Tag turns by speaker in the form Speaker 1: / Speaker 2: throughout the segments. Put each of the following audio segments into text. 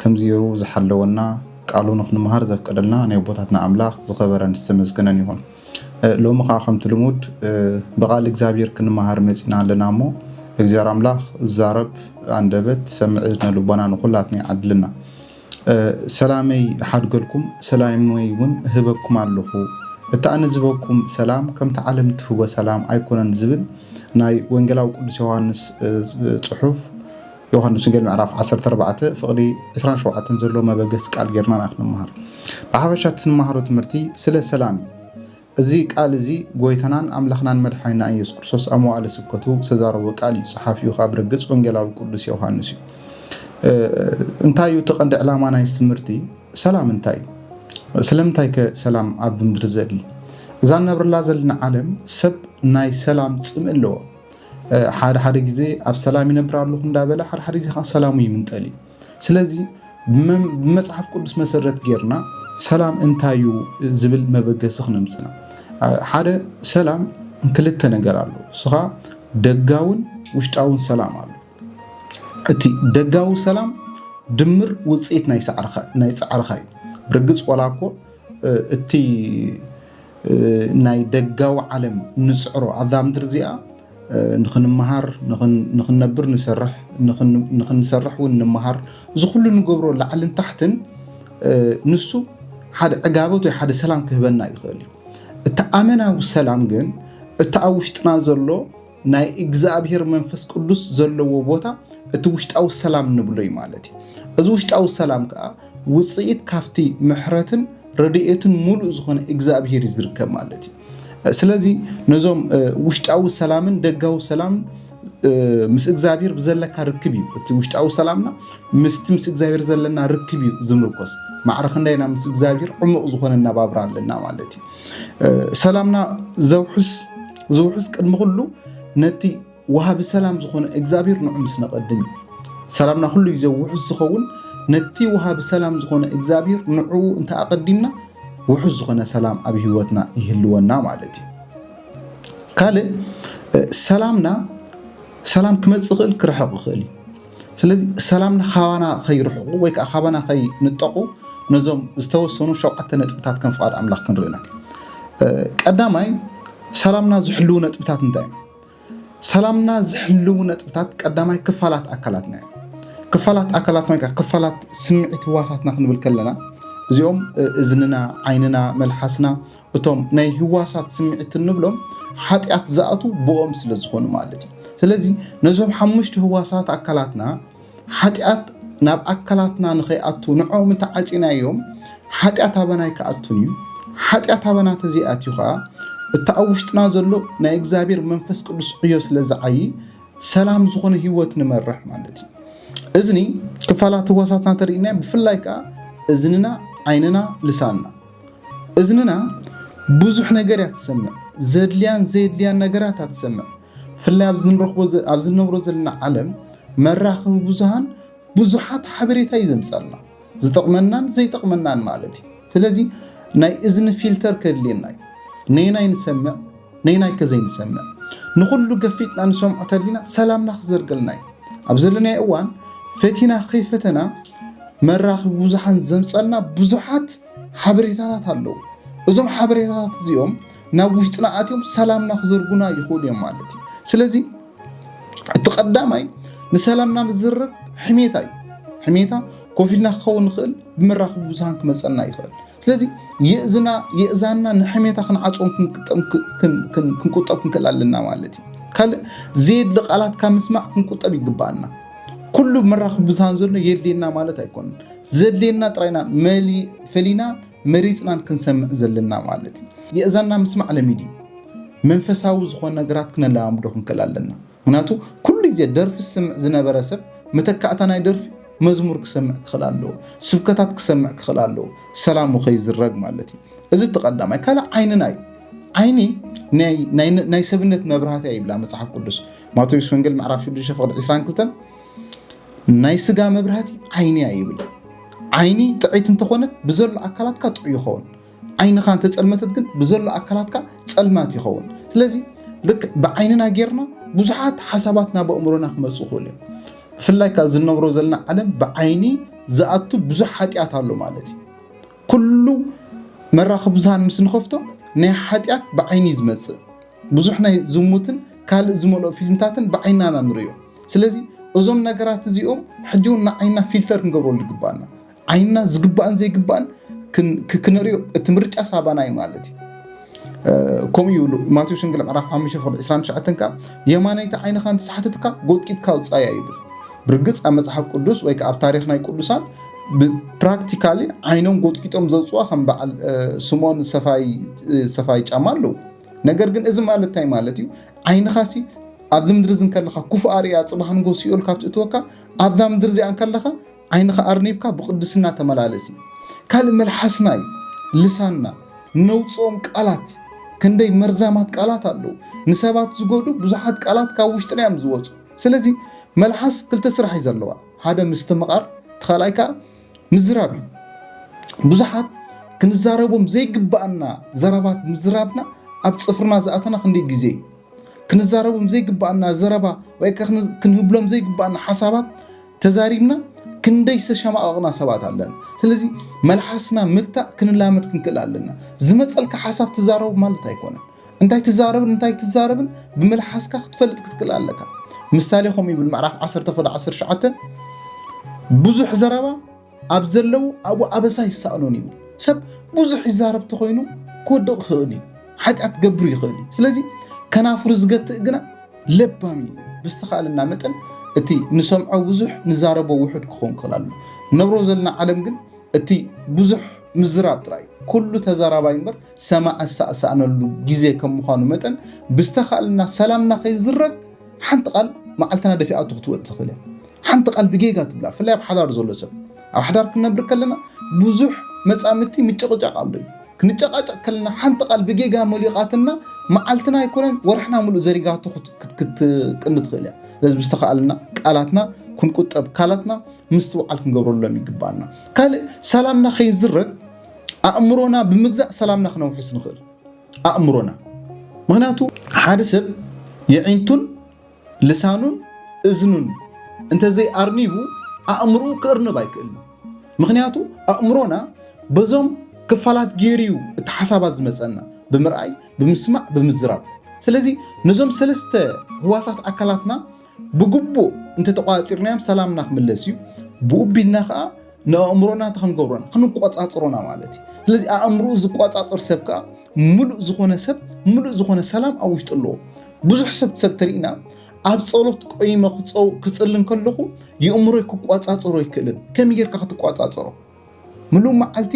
Speaker 1: ከምዚ ገይሩ ዝሓለወና ቃሉ ንክንምሃር ዘፍቀደልና ናይ ኣቦታትና ኣምላኽ ዝኸበረን ዝተመስገነን ይኹን። ሎሚ ከዓ ከምቲ ልሙድ ብቃል እግዚኣብሔር ክንመሃር መፂና ኣለና እሞ እግዚኣብሔር ኣምላኽ ዛረብ ኣንደበት ሰምዕ እዝነ ልቦና ንኩላትና ይዓድልና። ሰላመይ ሓድገልኩም ሰላመይ እውን ህበኩም ኣለኹ እቲ ኣነ ዝበኩም ሰላም ከምቲ ዓለም ትህቦ ሰላም ኣይኮነን ዝብል ናይ ወንጌላዊ ቅዱስ ዮሃንስ ፅሑፍ ዮሃንስ ወንጌል ምዕራፍ ዓሰርተ ኣርባዕተ ፍቕዲ ዕስራን ሸውዓተን ዘለዎ መበገሲ ቃል ጌርና ኢና ክንመሃር። ብሓፈሻ እቲ እንመሃሮ ትምህርቲ ስለ ሰላም እዩ። እዚ ቃል እዚ ጎይታናን ኣምላኽናን መድሓኒናን ኢየሱስ ክርስቶስ ኣብ መዋእለ ስብከቱ ዝተዛረቦ ቃል እዩ። ጸሓፊኡ ከኣ ብርግጽ ወንጌላዊ ቅዱስ ዮሃንስ እዩ። እንታይ እዩ እቲ ቀንዲ ዕላማ ናይ እዚ ትምህርቲ? ሰላም እንታይ እዩ? ስለምንታይ ከ ሰላም ኣብ ምድሪ ዘድሊ? እዛ ንነብረላ ዘለና ዓለም ሰብ ናይ ሰላም ጽምኢ ኣለዎ። ሓደሓደ ግዜ ኣብ ሰላም ይነብር ኣለኹ እንዳበለ ሓደሓደ ግዜ ከዓ ሰላሙ ይምንጠል እዩ። ስለዚ ብመፅሓፍ ቅዱስ መሰረት ጌርና ሰላም እንታይ እዩ ዝብል መበገሲ ክነምፅና ሓደ ሰላም ክልተ ነገር ኣሎ ስኻ ደጋውን ውሽጣውን ሰላም ኣሎ እቲ ደጋዊ ሰላም ድምር ውፅኢት ናይ ፃዕርኻ እዩ ብርግፅ ዋላ እኮ እቲ ናይ ደጋዊ ዓለም ንፅዕሮ ኣብዛ ምድሪ እዚኣ ንክንመሃር ንክንነብር ንሰርሕ ንክንሰርሕ እውን ንመሃር እዚ ኩሉ ንገብሮ ላዕልን ታሕትን ንሱ ሓደ ዕጋበት ወይ ሓደ ሰላም ክህበና ይኽእል እዩ እቲ ኣመናዊ ሰላም ግን እቲ ኣብ ውሽጥና ዘሎ ናይ እግዚኣብሔር መንፈስ ቅዱስ ዘለዎ ቦታ እቲ ውሽጣዊ ሰላም ንብሎ እዩ ማለት እዩ። እዚ ውሽጣዊ ሰላም ከዓ ውፅኢት ካብቲ ምሕረትን ረድኤትን ሙሉእ ዝኾነ እግዚኣብሔር እዩ ዝርከብ ማለት እዩ። ስለዚ ነዞም ውሽጣዊ ሰላምን ደጋዊ ሰላምን ምስ እግዚኣብሔር ብዘለካ ርክብ እዩ እቲ ውሽጣዊ ሰላምና ምስቲ ምስ እግዚኣብሔር ዘለና ርክብ እዩ ዝምርኮስ ማዕረ ክንደይ ኢና ምስ እግዚኣብሔር ዕሙቕ ዝኾነ እናባብራ ኣለና ማለት እዩ ሰላምና ዘውሕስ እዚ ውሑስ ቅድሚ ኩሉ ነቲ ወሃቢ ሰላም ዝኾነ እግዚኣብሔር ንዑ ምስ ነቐድም እዩ። ሰላምና ኩሉ ግዜ ውሑስ ዝኸውን ነቲ ወሃቢ ሰላም ዝኾነ እግዚኣብሔር ንዑ እንተ ኣቐዲምና ውሑስ ዝኾነ ሰላም ኣብ ህይወትና ይህልወና ማለት እዩ። ካልእ ሰላምና ሰላም ክመፅእ ይኽእል ክርሕቕ ይኽእል እዩ። ስለዚ ሰላምና ካባና ከይርሕቑ ወይ ከዓ ካባና ከይንጠቑ ነዞም ዝተወሰኑ ሸውዓተ ነጥብታት ከም ፍቓድ ኣምላኽ ክንርኢ ኢና። ቀዳማይ ሰላምና ዝሕልው ነጥብታት እንታይ እዮም? ሰላምና ዝሕልው ነጥብታት ቀዳማይ ክፋላት ኣካላትና እዮም። ክፋላት ኣካላት ወይ ክፋላት ስምዒት ህዋሳትና ክንብል ከለና እዚኦም እዝንና፣ ዓይንና፣ መልሓስና እቶም ናይ ህዋሳት ስምዒት እንብሎም ሓጢኣት ዝኣትዉ ብኦም ስለ ዝኾኑ ማለት እዩ። ስለዚ ነዞም ሓሙሽተ ህዋሳት ኣካላትና ሓጢኣት ናብ ኣካላትና ንኸይኣቱ ንዕኦም እንተዓፂናዮም ሓጢኣት ኣበና ኣይክኣቱን እዩ። ሓጢኣት ኣበና ተዘይኣትዩ ከዓ እቲ ኣብ ውሽጥና ዘሎ ናይ እግዚኣብሔር መንፈስ ቅዱስ ዕዮ ስለ ዝዓይ ሰላም ዝኾነ ህይወት ንመርሕ ማለት እዩ። እዝኒ ክፋላት ህዋሳትና ተርእና ብፍላይ ከዓ እዝንና፣ ዓይንና፣ ልሳንና እዝንና ብዙሕ ነገር እያ ትሰምዕ ዘድልያን ዘየድልያን ነገራት እያ ትሰምዕ ብፍላይ ኣብዚ ንነብሮ ዘለና ዓለም መራኸቢ ብዙሃን ብዙሓት ሓበሬታ እዩ ዘምፀልና ዝጠቕመናን ዘይጠቕመናን ማለት እዩ ስለዚ ናይ እዝኒ ፊልተር ከድልየና እዩ ነይናይ ንሰምዕ ነይናይ ከዘይንሰምዕ ንኹሉ ገፊጥና ንሰምዖ ተሊና ሰላምና ክዘርገልና እዩ ኣብ ዘለናይ እዋን ፈቲና ከይፈተና መራኽቢ ብዙሓን ዘምጸልና ብዙሓት ሓበሬታታት ኣለዉ። እዞም ሓበሬታታት እዚኦም ናብ ውሽጥና ኣትዮም ሰላምና ክዘርጉና ይኽእሉ እዮም ማለት እዩ። ስለዚ እቲ ቀዳማይ ንሰላምና ንዝርብ ሕሜታ እዩ። ሕሜታ ኮፍ ኢልና ክኸውን ንኽእል ብመራኽቢ ብዙሃን ክመፀና ይኽእል። ስለዚ የእዝና የእዛንና ንሕሜታ ክንዓፅም ክንቁጠብ ክንክእል ኣለና ማለት እዩ። ካልእ ዘየድሊ ቃላት ካብ ምስማዕ ክንቁጠብ ይግባኣና። ኩሉ ኣብ መራኽቢ ብዙሃን ዘሎ የድልየና ማለት ኣይኮነን። ዘድልየና ጥራይና ፈሊና መሪፅናን ክንሰምዕ ዘለና ማለት እዩ። የእዛና ምስማዕ ለሚድ እዩ። መንፈሳዊ ዝኾነ ነገራት ክነለማምዶ ክንክእል ኣለና ምክንያቱ ኩሉ ግዜ ደርፊ ዝስምዕ ዝነበረ ሰብ መተካእታ ናይ ደርፊ መዝሙር ክሰምዕ ክኽእል ኣለዎ ስብከታት ክሰምዕ ክኽእል ኣለዎ ሰላሙ ከይዝረግ ማለት እዩ እዚ ተቀዳማይ ካልእ ዓይንና እዩ ዓይኒ ናይ ሰብነት መብራህትያ ይብላ መፅሓፍ ቅዱስ ማቴዎስ ወንጌል ምዕራፍ 6 ፍቅዲ 22 ናይ ስጋ መብራህቲ ዓይኒ እያ ይብል። ዓይኒ ጥዒት እንተኾነት ብዘሎ ኣካላትካ ጥዑ ይኸውን። ዓይንኻ እንተፀልመተት ግን ብዘሎ ኣካላትካ ፀልማት ይኸውን። ስለዚ ልክ ብዓይንና ጌርና ብዙሓት ሓሳባት ናብ ኣእምሮና ክመፁ ይኽእሉ እዮም። ብፍላይ ካብ ዝነብሮ ዘለና ዓለም ብዓይኒ ዝኣቱ ብዙሕ ሓጢኣት ኣሎ ማለት እዩ። ኩሉ መራኽብ ብዙሃን ምስ ንኸፍቶ ናይ ሓጢኣት ብዓይኒ ዝመፅእ ብዙሕ ናይ ዝሙትን ካልእ ዝመልኦ ፊልምታትን ብዓይንና ኢና ንርእዮ። ስለዚ እዞም ነገራት እዚኦም ሕጂ እውን ንዓይንና ፊልተር ክንገብረሉ ይግብኣና። ዓይንና ዝግባእን ዘይግባእን ክንርእዮ እቲ ምርጫ ሳባና እዩ ማለት እዩ። ከምኡ ይብሉ ማቴዎስ ወንጌል ምዕራፍ 5 ፍቅዲ 29 ከዓ የማነይቲ ዓይንኻ እንተሰሓተትካ ጎጥቂጥካ ውፃያ ይብል ብርግፅ ኣብ መፅሓፍ ቅዱስ ወይ ከዓ ኣብ ታሪክ ናይ ቅዱሳን ብፕራክቲካሊ ዓይኖም ጎጥቂጦም ዘውፅዋ ከም በዓል ስምኦን ሰፋይ ጫማ ኣለዉ ነገር ግን እዚ ማለት እንታይ ማለት እዩ ዓይንኻሲ ኣብዚ ምድሪ እዚ እንከለኻ ክፉእ ኣርእያ ፅባሕ ንጎ ሲኦል ካብ ትእትወካ ኣብዛ ምድሪ እዚኣ እንከለኻ ዓይንኻ ኣርኒብካ ብቅድስና ተመላለስ እዩ ካልእ መልሓስና እዩ ልሳንና ነውፅኦም ቃላት ክንደይ መርዛማት ቃላት ኣለዉ ንሰባት ዝጎዱ ብዙሓት ቃላት ካብ ውሽጥና እዮም ዝወፁ ስለዚ መልሓስ ክልተ ስራሕ እዩ ዘለዋ ሓደ ምስትምቓር እቲ ካልኣይ ከዓ ምዝራብ እዩ። ብዙሓት ክንዛረቦም ዘይግባኣና ዘረባት ምዝራብና ኣብ ፅፍርና ዝኣተና ክንደይ ግዜ እዩ? ክንዛረቦም ዘይግባኣና ዘረባ ወይ ክንህብሎም ዘይግባኣና ሓሳባት ተዛሪብና ክንደይ ዝተሸማቐቕና ሰባት ኣለና። ስለዚ መልሓስና ምግታእ ክንላመድ ክንክእል ኣለና። ዝመፀልካ ሓሳብ ትዛረቡ ማለት ኣይኮነን። እንታይ ትዛረብን እንታይ ትዛረብን ብምልሓስካ ክትፈልጥ ክትክእል ኣለካ ምሳሌ ከምኡ ይብል ምዕራፍ 1 ኮደ 19 ብዙሕ ዘረባ ኣብ ዘለዉ ኣብኡ ኣበሳ ይሳእኖን ይብል ሰብ ብዙሕ ይዛረብ ተኮይኑ ክወድቕ ይኽእል እዩ ሓጢኣት ገብሩ ይኽእል እዩ ስለዚ ከናፍሩ ዝገትእ ግና ለባም እዩ ብዝተኻእለና መጠን እቲ ንሰምዖ ብዙሕ ንዛረቦ ውሑድ ክኸውን ክኽእል ኣሎ ነብሮ ዘለና ዓለም ግን እቲ ብዙሕ ምዝራብ ጥራይ ኩሉ ተዛራባይ እምበር ሰማዒ ዝሳዕሳዕነሉ ግዜ ከም ምዃኑ መጠን ብዝተኻእለና ሰላምና ከይዝረግ ሓንቲ ቃል መዓልትና ደፊኣቶ ክትወል ትኽእል እያ ሓንቲ ቃል ብጌጋ ትብላ ብፍላይ ኣብ ሓዳር ዘሎ ሰብ ኣብ ሓዳር ክንነብር ከለና ብዙሕ መፃምድቲ ምጭቕጫቕ ኣሎ እዩ ክንጨቃጨቕ ከለና ሓንቲ ቃል ብጌጋ መሊቓትና መዓልትና ኣይኮነን ወርሕና ምሉእ ዘሪጋቶ ክትቅኒ ትኽእል እያ ስለዚ ብዝተኸኣለና ቃላትና ክንቁጠብ ካላትና ምስትውዓል ክንገብረሎም ይግባኣና ካልእ ሰላምና ከይዝረግ ኣእምሮና ብምግዛእ ሰላምና ክነውሕስ ንኽእል ኣእምሮና ምክንያቱ ሓደ ሰብ የዒንቱን ልሳኑን እዝኑን እንተዘይ ኣርኒቡ ኣእምርኡ ክእርንብ ኣይክእል ምክንያቱ ኣእምሮና በዞም ክፋላት ገይሩ እዩ እቲ ሓሳባት ዝመፀና ብምርኣይ ብምስማዕ ብምዝራብ ስለዚ ነዞም ሰለስተ ህዋሳት ኣካላትና ብግቡእ እንተተቋፂርናዮም ሰላምና ክምለስ እዩ ብኡ ቢልና ከዓ ንኣእምሮና እንታይ ክንገብሮን ክንቆፃፅሮና ማለት እዩ ስለዚ ኣእምሮ ዝቆፃፅር ሰብ ከዓ ምሉእ ዝኾነ ሰብ ምሉእ ዝኾነ ሰላም ኣብ ውሽጡ ኣለዎ ብዙሕ ሰብ ሰብ ተሪእና ኣብ ፀሎት ቆይመ ክፅልን ከለኹ የእምሮይ ክቆፃፀሮ ኣይክእልን ከመይ ጌርካ ክትቆፃፀሮ ምሉእ መዓልቲ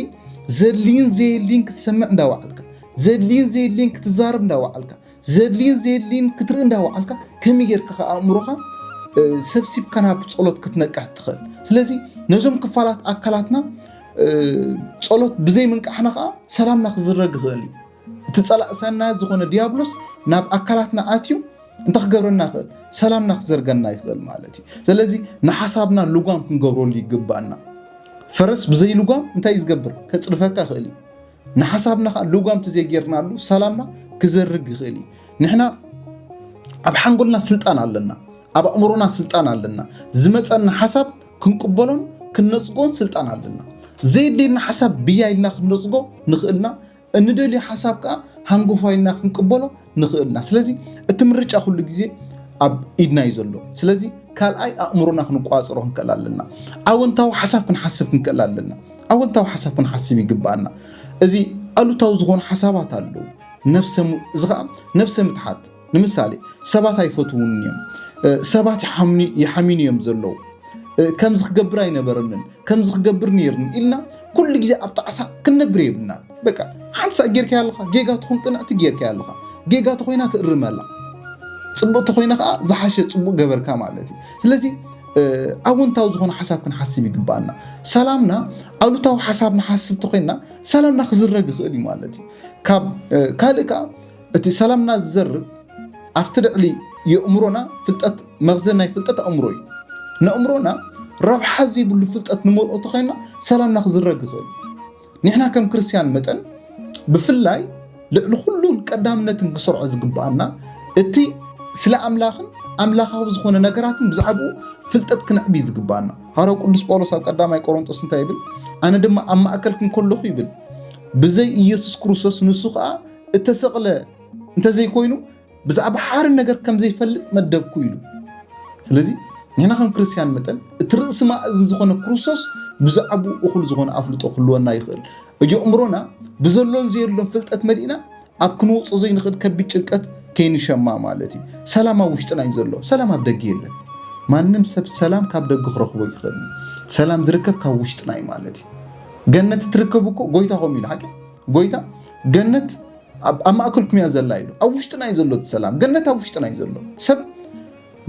Speaker 1: ዘድልይን ዘየድልይን ክትሰምዕ እንዳወዓልካ ዘድልይን ዘየድልይን ክትዛረብ እንዳወዓልካ ዘድልይን ዘየድልይን ክትርኢ እንዳወዓልካ ከመይ ጌርካ ከ ኣእምሮኻ ሰብሲብካ ናብ ጸሎት ክትነቅሕ ትኽእል ስለዚ ነዞም ክፋላት ኣካላትና ጸሎት ብዘይ ምንቃሕና ከዓ ሰላምና ክዝረግ ይኽእል እዩ እቲ ጸላእ ሰናያት ዝኾነ ዲያብሎስ ናብ ኣካላትና ኣትዩ እንታይ ክገብረና ይኽእል? ሰላምና ክዘርገና ይኽእል ማለት እዩ። ስለዚ ንሓሳብና ልጓም ክንገብረሉ ይግባኣና። ፈረስ ብዘይ ልጓም እንታይ እዩ ዝገብር? ከጽርፈካ ይኽእል እዩ። ንሓሳብና ከዓ ልጓም ተዘይጌርናሉ ሰላምና ክዘርግ ይኽእል እዩ። ንሕና ኣብ ሓንጎልና ስልጣን ኣለና፣ ኣብ ኣእምሮና ስልጣን ኣለና። ዝመፀና ሓሳብ ክንቅበሎን ክንነፅጎን ስልጣን ኣለና። ዘየድልየና ሓሳብ ብያ ኢልና ክንነፅጎ ንኽእልና እንደልዮ ሓሳብ ከዓ ሃንጎፋይ ኢልና ክንቅበሎ ንኽእል ኢና ስለዚ እቲ ምርጫ ኩሉ ግዜ ኣብ ኢድና እዩ ዘሎ ስለዚ ካልኣይ ኣእምሮና ክንቋፅሮ ክንክእል ኣለና ኣወንታዊ ሓሳብ ክንሓስብ ክንክእል ኣለና ኣወንታዊ ሓሳብ ክንሓስብ ይግባኣና እዚ ኣሉታዊ ዝኾኑ ሓሳባት ኣለዉ እዚ ከዓ ነብሰ ምትሓት ንምሳሌ ሰባት ኣይፈትዉንን እዮም፣ ሰባት ይሓሚኑ እዮም ዘለዉ፣ ከምዚ ክገብር ኣይነበረንን፣ ከምዚ ክገብር ነይርኒ ኢልና ኩሉ ግዜ ኣብ ጣዕሳ ክንነብር የብልናን። በቃ ሓንቲ ሳዕ ጌርካያ ኣለኻ ጌጋ ትኹን ቅንዕቲ ጌርካያ ኣለኻ ጌጋ ተኾይና ትእርመላ ፅቡቅ ተኾይና ከዓ ዝሓሸ ፅቡቅ ገበርካ ማለት እዩ። ስለዚ ኣወንታዊ ዝኾነ ሓሳብ ክንሓስብ ይግባኣና። ሰላምና ኣሉታዊ ሓሳብ ንሓስብ ተኾይና ሰላምና ክዝረግ ይኽእል እዩ ማለት እዩ። ካብ ካልእ ከዓ እቲ ሰላምና ዝዘርግ ኣብቲ ልዕሊ የእምሮና ፍልጠት መኽዘን ናይ ፍልጠት ኣእምሮ እዩ። ነእምሮና ረብሓ ዘይብሉ ፍልጠት ንመልኦ ተኸይና ሰላምና ክዝረግ ይኽእል እዩ። ንሕና ከም ክርስትያን መጠን ብፍላይ ልዕሊ ኩሉን ቀዳምነትን ክሰርዖ ዝግብኣና እቲ ስለ ኣምላኽን ኣምላኻዊ ዝኾነ ነገራትን ብዛዕባኡ ፍልጠት ክንዕብ እዩ ዝግብኣና። ሃረው ቅዱስ ጳውሎስ ኣብ ቀዳማይ ቆሮንጦስ እንታይ ይብል? ኣነ ድማ ኣብ ማእከልኩም ከለኹ ይብል ብዘይ ኢየሱስ ክርስቶስ ንሱ ከዓ እተሰቕለ እንተዘይኮይኑ ብዛዕባ ሓሪ ነገር ከም ዘይፈልጥ መደብኩ ኢሉ ስለዚ ንሕና ከም ክርስትያን መጠን እቲ ርእሲ ማእዝን ዝኾነ ክርስቶስ ብዛዕባኡ እኹል ዝኾነ ኣፍልጦ ክህልወና ይኽእል እዩ እምሮና ብዘሎን ዘየሎን ፍልጠት መሊእና ኣብ ክንወፆ ዘይንኽእል ከቢድ ጭንቀት ከይንሸማ ማለት እዩ ሰላም ኣብ ውሽጥና እዩ ዘሎ ሰላም ኣብ ደገ የለን ማንም ሰብ ሰላም ካብ ደገ ክረኽቦ ይኽእል ሰላም ዝርከብ ካብ ውሽጥና እዩ ማለት እዩ ገነት እትርከብ እኮ ጎይታ ከምኡ ኢሉ ሓቂ ጎይታ ገነት ኣብ ማእከልኩም እያ ዘላ ኢሉ ኣብ ውሽጥና እዩ ዘሎ እቲ ሰላም ገነት ኣብ ውሽጥና እዩ ዘሎ ሰብ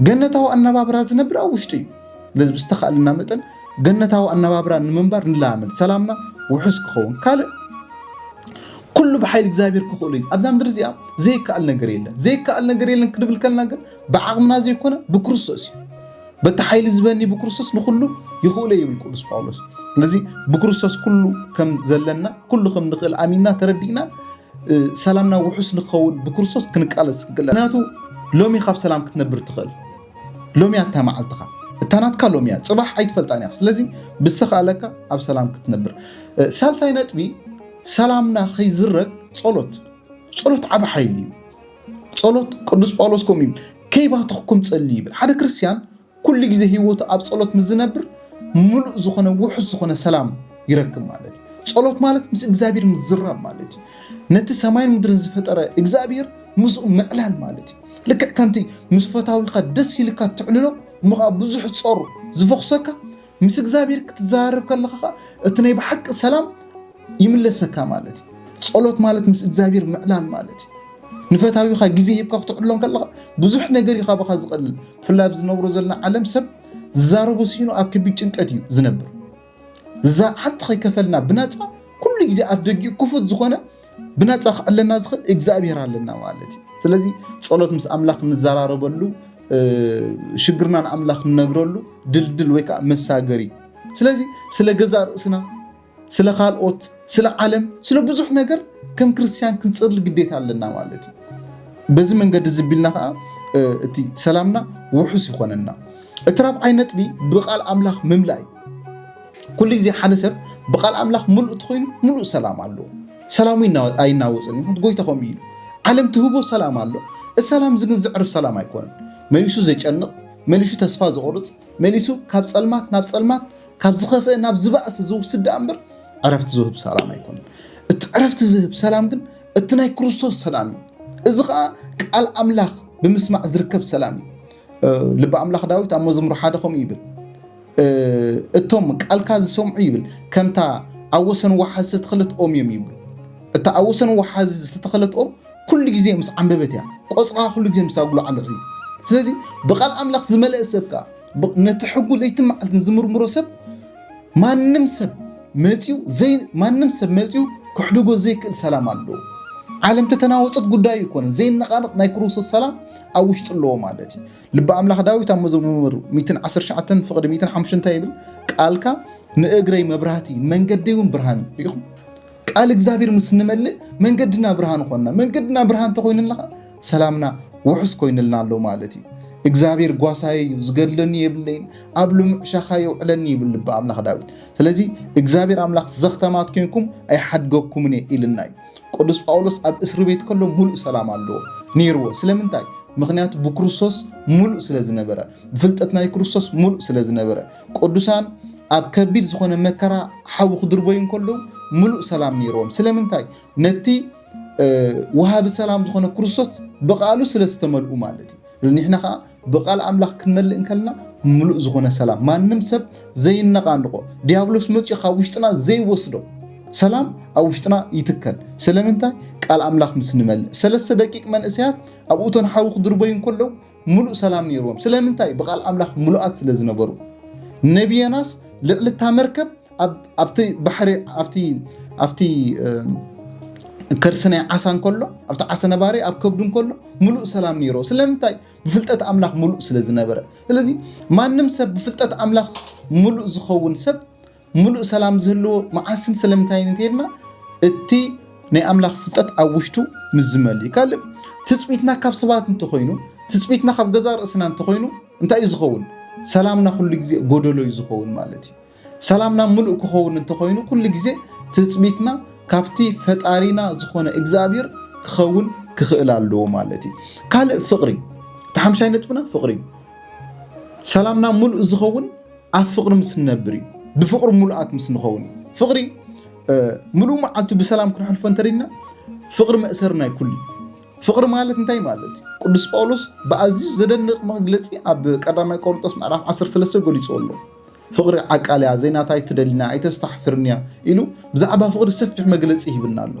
Speaker 1: ገነታዊ ኣነባብራ ዝነብር ኣብ ውሽጢ እዩ ስለዚ ብዝተኻእለና መጠን ገነታዊ ኣነባብራ ንምንባር ንለማመድ ሰላምና ውሑስ ክኸውን ካልእ ኩሉ ብሓይሊ እግዚኣብሔር ክኽእሉ እዩ ኣብዛ ምድሪ እዚኣ ዘይከኣል ነገር የለን ዘይከኣል ነገር የለን ክንብል ከልና ግን ብዓቕምና ዘይኮነ ብክርስቶስ እዩ በቲ ሓይሊ ዝበኒ ብክርስቶስ ንኩሉ ይኽእሎ ይብል ቅዱስ ጳውሎስ ስለዚ ብክርስቶስ ኩሉ ከም ዘለና ኩሉ ከም ንኽእል ኣሚንና ተረዲእና ሰላምና ውሑስ ንኸውን ብክርስቶስ ክንቃለስ ክግለ ምክንያቱ ሎሚ ካብ ሰላም ክትነብር ትኽእል ሎሚ ኣታ መዓልትኻ እታ ናትካ ሎሚ እያ ፅባሕ ኣይትፈልጣን እያ ስለዚ ብዝተኸኣለካ ኣብ ሰላም ክትነብር ሳልሳይ ነጥቢ ሰላምና ከይዝረግ ፀሎት ፀሎት ዓብ ሓይሊ እዩ ጸሎት ቅዱስ ጳውሎስ ከምኡ ይብል፣ ከይባተኽኩም ጸልዩ ይብል። ሓደ ክርስትያን ኩሉ ግዜ ህይወቱ ኣብ ጸሎት ምስ ዝነብር ምሉእ ዝኾነ ውሑስ ዝኾነ ሰላም ይረክብ ማለት እዩ። ጸሎት ማለት ምስ እግዚኣብሔር ምዝራብ ማለት እዩ። ነቲ ሰማይን ምድርን ዝፈጠረ እግዚኣብሔር ምስኡ ምዕላል ማለት እዩ። ልክዕ ከምቲ ምስ ፈታዊኻ ደስ ኢልካ ትዕልሎ እሞ ብዙሕ ጾር ዝፈኽሰካ ምስ እግዚኣብሔር ክትዘራረብ ከለኻ ኸዓ እቲ ናይ ብሓቂ ሰላም ይምለሰካ ማለት እዩ። ጸሎት ማለት ምስ እግዚኣብሔር ምዕላል ማለት እዩ። ንፈታዊኻ ግዜ ሂብካ ክትዕሎ ከለኻ ብዙሕ ነገር እዩ ካባኻ ዝቐልል። ብፍላይ ኣብ ዝነብሮ ዘለና ዓለም ሰብ ዝዛረቦ ሲኢኑ ኣብ ከቢድ ጭንቀት እዩ ዝነብር። እዛ ሓንቲ ከይከፈልና ብናፃ ኩሉ ግዜ ኣፍ ደጊኡ ክፉት ዝኾነ ብናፃ ክዕለና ዝኽእል እግዚኣብሔር ኣለና ማለት እዩ። ስለዚ ፀሎት ምስ ኣምላኽ ንዘራረበሉ ሽግርና ንኣምላኽ ንነግረሉ ድልድል ወይ ከዓ መሳገሪ ስለዚ ስለ ገዛ ርእስና ስለ ካልኦት ስለ ዓለም ስለ ብዙሕ ነገር ከም ክርስትያን ክንፅርሊ ግዴታ ኣለና ማለት እዩ። በዚ መንገዲ ዝቢልና ከዓ እቲ ሰላምና ውሑስ ይኾነና። እቲ ራብዓይ ነጥቢ ብቃል ኣምላኽ ምምላእ እዩ። ኩሉ ግዜ ሓደ ሰብ ብቃል ኣምላኽ ምሉእ እንተኾይኑ ምሉእ ሰላም ኣለዎ። ሰላሙ ኣይናወጽን እዩ፣ ጎይታ ከምኡ እዩ። ዓለም ትህቦ ሰላም ኣሎ፣ እቲ ሰላም እዚ ግን ዘዕርፍ ሰላም ኣይኮነን። መሊሱ ዘጨንቕ፣ መሊሱ ተስፋ ዘቑርጽ፣ መሊሱ ካብ ጸልማት ናብ ጸልማት፣ ካብ ዝኸፍአ ናብ ዝባእስ ዝውስድ ደኣ እምበር ዕረፍቲ ዝህብ ሰላም ኣይኮነን። እቲ ዕረፍቲ ዝህብ ሰላም ግን እቲ ናይ ክርስቶስ ሰላም እዩ። እዚ ከዓ ቃል ኣምላኽ ብምስማዕ ዝርከብ ሰላም እዩ። ልቢ ኣምላኽ ዳዊት ኣብ መዝሙር ሓደ ከምኡ ይብል እቶም ቃልካ ዝሰምዑ ይብል ከምታ ኣብ ወሰን ወሓዚ ዝተተኸለት ኦም እዮም ይብሉ። እታ ኣብ ወሰን ወሓዚ ዝተተኸለት ኦም ኩሉ ግዜ ምስ ዓንበበት እያ፣ ቆፅራ ኩሉ ግዜ ምስ ኣጉላዕልዑ እዩ። ስለዚ ብቃል ኣምላኽ ዝመለእ ሰብ ከዓ ነቲ ሕጉ ለይቲ መዓልትን ዝምርምሮ ሰብ ማንም ሰብ መፅኡ ዘይ ማንም ሰብ መፅኡ ክሕድጎ ዘይክእል ሰላም ኣለዎ። ዓለም ተተናወፀት ጉዳዩ ይኮነ ዘይነቃነቕ ናይ ክርስቶስ ሰላም ኣብ ውሽጡ ኣለዎ ማለት እዩ። ልቢ ኣምላኽ ዳዊት ኣብ መዝሙር ሚትን ዓሰርተ ትሽዓተን ፍቕዲ ሚትን ሓሙሽተ እንታይ ይብል? ቃልካ ንእግረይ መብራህቲ መንገደይ እውን ብርሃን እዩ። ርኢኹም? ቃል እግዚኣብሔር ምስ ንመልእ መንገድና ብርሃን ኾንና። መንገድና ብርሃን እንተኾይኑልና ኸኣ ሰላምና ውሑስ ኮይኑልና ኣሎ ማለት እዩ። እግዚኣብሔር ጓሳየ እዩ፣ ዝገድለኒ የብለይን፣ ኣብ ልሙዕ ሻኻ የውዕለኒ ይብል ልቢ ኣምላኽ ዳዊት። ስለዚ እግዚኣብሔር ኣምላኽ ዘኽተማት ኴንኩም ኣይሓድገኩምን እየ ኢልና እዩ። ቅዱስ ጳውሎስ ኣብ እስሪ ቤት ከሎ ምሉእ ሰላም ኣለዎ ነይርዎ። ስለምንታይ? ምኽንያቱ ብክርስቶስ ምሉእ ስለ ዝነበረ፣ ብፍልጠት ናይ ክርስቶስ ምሉእ ስለ ዝነበረ። ቅዱሳን ኣብ ከቢድ ዝኾነ መከራ ሓዊ ክድርበዩ እንከለዉ ምሉእ ሰላም ነይርዎም። ስለምንታይ? ነቲ ወሃቢ ሰላም ዝኾነ ክርስቶስ ብቃሉ ስለ ዝተመልኡ ማለት እዩ። ንሕና ከዓ ብቃል ኣምላኽ ክንመልእ እንከለና ምሉእ ዝኾነ ሰላም ማንም ሰብ ዘይነቓንቖ ዲያብሎስ መጺኡ ካብ ውሽጥና ዘይወስዶ ሰላም ኣብ ውሽጥና ይትከል። ስለምንታይ ቃል ኣምላኽ ምስ ንመልእ ሰለስተ ደቂቅ መንእሰያት ኣብ እቶን ሓዊ ክድርበዩ እንከለዉ ምሉእ ሰላም ነይርዎም። ስለምንታይ ብቃል ኣምላኽ ምሉኣት ስለ ዝነበሩ። ነብየናስ ልዕሊ እታ መርከብ ኣብቲ ባሕሪ ኣብቲ ከርሲ ናይ ዓሳ እንከሎ ኣብቲ ዓሳ ነባሪ ኣብ ከብዱ እንከሎ ሙሉእ ሰላም ነይሮ ስለምንታይ ብፍልጠት ኣምላኽ ሙሉእ ስለ ዝነበረ ስለዚ ማንም ሰብ ብፍልጠት ኣምላኽ ሙሉእ ዝኸውን ሰብ ሙሉእ ሰላም ዝህልዎ መዓስን ስለምንታይ እንተይልና እቲ ናይ ኣምላኽ ፍልጠት ኣብ ውሽጡ ምስ ዝመል እዩ ካልእ ትፅቢትና ካብ ሰባት እንተኮይኑ ትፅቢትና ካብ ገዛ ርእስና እንተኮይኑ እንታይ እዩ ዝኸውን ሰላምና ኩሉ ግዜ ጎደሎ እዩ ዝኸውን ማለት እዩ ሰላምና ምሉእ ክኸውን እንተኾይኑ ኩሉ ግዜ ትጽቢትና ካብቲ ፈጣሪና ዝኾነ እግዝኣብሄር ክኸውን ክኽእል ኣለዎ ማለት እዩ። ካልእ ፍቕሪ እቲ ሓምሻይ ነጥብና ፍቕሪ እዩ። ሰላምና ምሉእ ዝኸውን ኣብ ፍቕሪ ምስ ንነብር እዩ። ብፍቕሪ ምሉኣት ምስ ንኸውን እዩ። ፍቕሪ ምሉእ መዓልቱ ብሰላም ክንሕልፎ እንተደና ፍቕሪ መእሰሪ ናይ ኩሉ እዩ። ፍቕሪ ማለት እንታይ ማለት እዩ? ቅዱስ ጳውሎስ ብኣዝዩ ዘደንቕ መግለፂ ኣብ ቀዳማይ ቆሮንጦስ ምዕራፍ 13 ገሊፁ ኣሎ። ፍቕሪ ዓቃል'ያ፣ ዘይናታ ኣይትደልን'ያ፣ ኣይተስታሕፍርን'ያ ኢሉ ብዛዕባ ፍቕሪ ሰፊሕ መግለጺ ይህብና ኣሎ።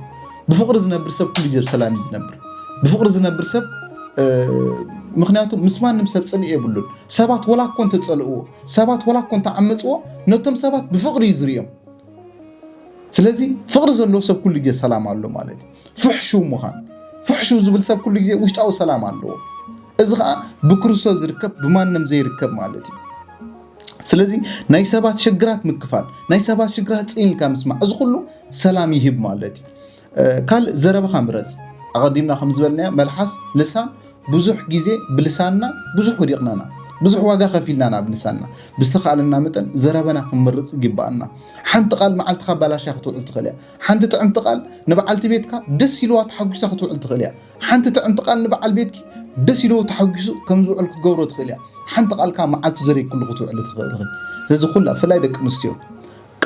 Speaker 1: ብፍቕሪ ዝነብር ሰብ ኩሉ ግዜ ብሰላም እዩ ዝነብር። ብፍቕሪ ዝነብር ሰብ ምክንያቱ ምስ ማንም ሰብ ጽልኢ የብሉን። ሰባት ወላ እኮ እንተጸልእዎ፣ ሰባት ወላ እኮ እንተዓመጽዎ፣ ነቶም ሰባት ብፍቕሪ እዩ ዝርእዮም። ስለዚ ፍቕሪ ዘለዎ ሰብ ኩሉ ግዜ ሰላም ኣሎ ማለት እዩ። ፍሕሹ ምዃን ፍሕሹ ዝብል ሰብ ኩሉ ግዜ ውሽጣዊ ሰላም ኣለዎ። እዚ ከዓ ብክርስቶስ ዝርከብ ብማንም ዘይርከብ ማለት እዩ። ስለዚ ናይ ሰባት ሽግራት ምክፋል ናይ ሰባት ሽግራት ፅን ኢልካ ምስማዕ እዚ ኩሉ ሰላም ይህብ ማለት እዩ ካልእ ዘረባኻ ምረፅ ኣቐዲምና ከም ዝበልናዮ መልሓስ ልሳን ብዙሕ ግዜ ብልሳንና ብዙሕ ወዲቕናና ብዙሕ ዋጋ ከፊልናና ብልሳንና ብዝተኻእለና መጠን ዘረበና ክንምርፅ ይግባኣና ሓንቲ ቃል መዓልትኻ ባላሻ ክትውዕል ትኽእል እያ ሓንቲ ጥዕምቲ ቃል ንበዓልቲ ቤትካ ደስ ኢልዋ ተሓጒሳ ክትውዕል ትኽእል እያ ሓንቲ ጥዕምቲ ቃል ንበዓል ቤትኪ ደስ ኢልዎ ተሓጒሱ ከም ዝውዕል ክትገብሮ ትኽእል እያ። ሓንቲ ቃል ከኣ መዓልቱ ዘሪግክሉ ክትውዕሊ ትኽእል ኢኺ። ስለዚ ኩላ ብፍላይ ደቂ ኣንስትዮ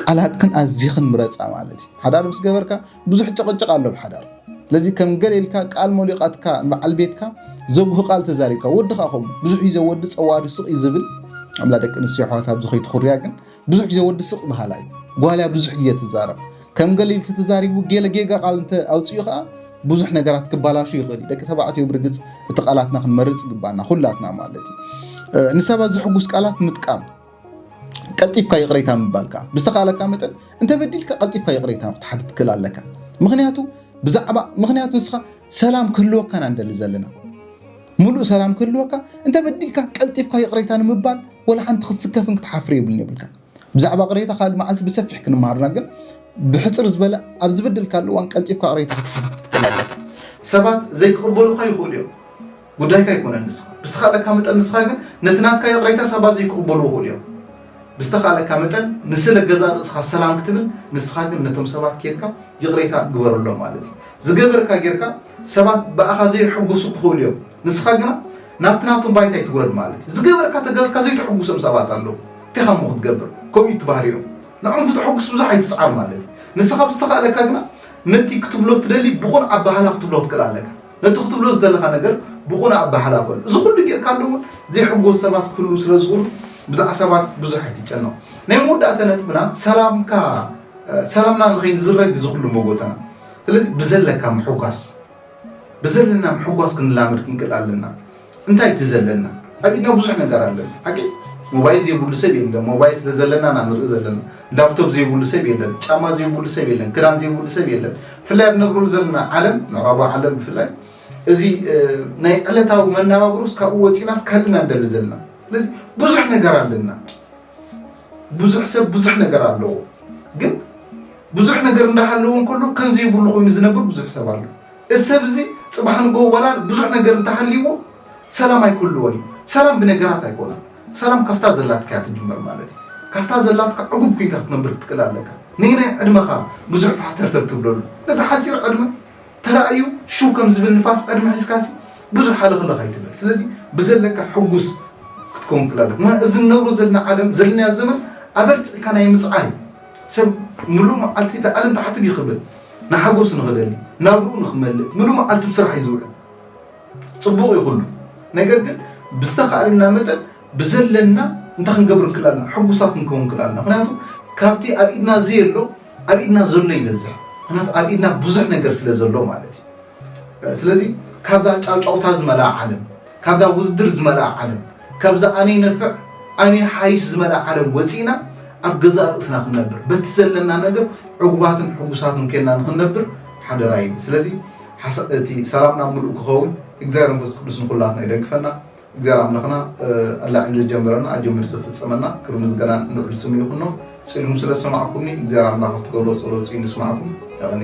Speaker 1: ቃላትክን ኣዚኽን ምረጻ ማለት እዩ። ሓዳር ምስ ገበርካ ብዙሕ ጭቕጭቕ ኣሎ ኣብ ሓዳር። ስለዚ ከም ገለ ኢልካ ቃል ሞሊቓትካ ንበዓል ቤትካ ዘጉህ ቃል ተዛሪብካ፣ ወዲ ከኣ ከምኡ ብዙሕ እዩ ዘወዲ ጸዋዱ ስቕ እዩ ዝብል። ኣላ ደቂ ኣንስትዮ ኣሕዋት ኣብዚ ከይትኹርያ ግን። ብዙሕ ግዜ ወዲ ስቅ በሃላይ እዩ ጓል እያ ብዙሕ ግዜ ትዛረብ ከም ገለ ኢሉ ተዛሪቡ ገለ ጌጋ ቃል እንተ ኣውጺኡ ከኣ ብዙሕ ነገራት ክባላሹ ይኽእል እዩ ደቂ ተባዕትዮ ብርግጽ እቲ ቃላትና ክንመርጽ ይግባና ኩላትና ማለት እዩ ንሰባት ዘሕጉስ ቃላት ምጥቃም ቀልጢፍካ ይቕሬታ ምባልካ ብዝተኻለካ መጠን እንተበዲልካ ቀልጢፍካ ይቕሬታ ክትሓትት ክል ኣለካ ምክንያቱ ብዛዕባ ምክንያቱ ንስኻ ሰላም ክህልወካና ንደሊ ዘለና ምሉእ ሰላም ክህልወካ እንተ በዲልካ ቀልጢፍካ ይቕሬታ ንምባል ወላ ሓንቲ ክትስከፍን ክትሓፍር የብልን የብልካ ብዛዕባ ቅሬታ ካልእ መዓልቲ ብሰፊሕ ክንመሃርና ግን ብሕፅር ዝበለ ኣብ ዝበደልካሉ እዋን ቀልጢፍካ ቅሬታ ክትሓፍር ሰባት ዘይክቕበሉካ ይኽእሉ እዮም ጉዳይካ ኣይኮነን ንስኻ ብዝተኻለካ መጠን ንስኻ ግን ነቲ ናትካ ይቕሬታ ሰባት ዘይክቕበሉ ይኽእሉ እዮም ብዝተኻለካ መጠን ንስለ ገዛ ርእስኻ ሰላም ክትብል ንስኻ ግን ነቶም ሰባት ኬድካ ይቕሬታ ግበረሎም ማለት እዩ ዝገበርካ ጌርካ ሰባት ብኣኻ ዘይሕጉሱ ክኽእሉ እዮም ንስኻ ግና ናብቲ ናቶም ባይታ ኣይትውረድ ማለት እዩ ዝገበርካ ተገብርካ ዘይተሕጉሶም ሰባት ኣለዉ እንቴኻ እሞ ክትገብር ከምኡ እዩ ትባህሪኦም ንዕኦም ክተሕጉስ ብዙሕ ኣይትስዓር ማለት እዩ ንስኻ ብዝተኻእለካ ግና ነቲ ክትብሎ ትደሊ ብቑን ኣባህላ ክትብሎ ክትክእል ኣለካ ነቲ ክትብሎ ዝደለኻ ነገር ብቑን ኣባህላ በሉ እዚ ኩሉ ጌርካ ኣሎ እውን ዘይሕጎስ ሰባት ክህሉ ስለ ዝኽእሉ ብዛዕ ሰባት ብዙሕ ኣይትጨነቕ ናይ መወዳእታ ነጥብና ሰላምካ ሰላምና ንኸይንዝረግ ዝኽሉ መጎተና ስለዚ ብዘለካ ምሕጓስ ብዘለና ምሕጓስ ክንላመድ ክንክእል ኣለና እንታይ እቲ ዘለና ኣብ ኢድና ብዙሕ ነገር ኣለና ሓቂ ሞባይል ዘይብሉ ሰብ የለን ሞባይል ስለ ዘለና ኢና ንርኢ ዘለና ላፕቶፕ ዘይብሉ ሰብ የለን ጫማ ዘይብሉ ሰብ የለን ክዳን ዘይብሉ ሰብ የለን ብፍላይ ኣብ ነብረሉ ዘለና ዓለም ምዕራባ ዓለም ብፍላይ እዚ ናይ ዕለታዊ መናባብሮስ ካብኡ ወፂናስ ካልእ ኢና ንደሊ ዘለና ስለዚ ብዙሕ ነገር ኣለና ብዙሕ ሰብ ብዙሕ ነገር ኣለዎ ግን ብዙሕ ነገር እንዳሃለዎ እንከሎ ከምዚ ይብሉ ኮይኑ ዝነብር ብዙሕ ሰብ ኣሎ እዚ ሰብ እዚ ፅባሕ ንጎ ዋላ ብዙሕ ነገር እንተሃልይዎ ሰላም ኣይክህልዎን እዩ ሰላም ብነገራት ኣይኮነን ሰላም ካብታ ዘላትካ እያ ትጅመር ማለት እዩ ካብታ ዘላትካ ዕጉብ ኩንካ ክትነብር ክትክእል ኣለካ ነየናይ ዕድመኻ ብዙሕ ፋሕተርተር ትብለሉ ነዚ ሓፂር ዕድመ ተራእዩ ሽው ከም ዝብል ንፋስ ዕድመ ሒዝካሲ ብዙሕ ሃለኽለኽ ኣይትበል ስለዚ ብዘለካ ሕጉስ ክትከውን ትላለፍ ምክንያቱ እዚ ንነብሮ ዘለና ዓለም ዘለናዮ ዘመን ኣበርቲዕካ ናይ ምፅዓን ሰብ ምሉእ መዓልቲ ላዕልን ታሕትን እዩ ክብል ንሓጎስ ንኽደሊ ናብርኡ ንኽመልእ ምሉእ መዓልቱ ስራሕ እዩ ዝውዕል ፅቡቕ እዩ ኩሉ ነገር ግን ብዝተኻእለና መጠን ብዘለና እንታይ ክንገብር ክላልና ሕጉሳት ክንከውን ክላልና ምክንያቱ ካብቲ ኣብ ኢድና ዘየሎ ኣብ ኢድና ዘሎ ይበዝሕ ምክንያቱ ኣብ ኢድና ብዙሕ ነገር ስለ ዘሎ ማለት እዩ ስለዚ ካብዛ ጫውጫውታ ዝመልኣ ዓለም ካብዛ ውድድር ዝመልኣ ዓለም ካብዛ ኣነይ ነፍዕ ኣነይ ሓይሽ ዝመልኣ ዓለም ወፂእና ኣብ ገዛእ ርእስና ክንነብር በቲ ዘለና ነገር ዕጉባትን ሕጉሳትን ኮይና ንክንነብር ሓደራ እዩ ስለዚ እቲ ሰላምና ምሉእ ክኸውን እግዚኣብሔር መንፈስ ቅዱስ ንኩላትና ይደግፈና እግዚኣብሔር ኣምላኽና ኣላዒሉ ዝጀመረና ኣጀሚሩ ዘፍጽመና ክብሪ ምስጋናን ልዑል ስሙ ይኹኖ። ጽልኩም ስለ ዝሰማዕኩምኒ እግዚኣብሔር ኣምላኽ ኣብ ትገብርዎ ጸሎት እጽዩ ንስማዕኩም። የቀንየልና።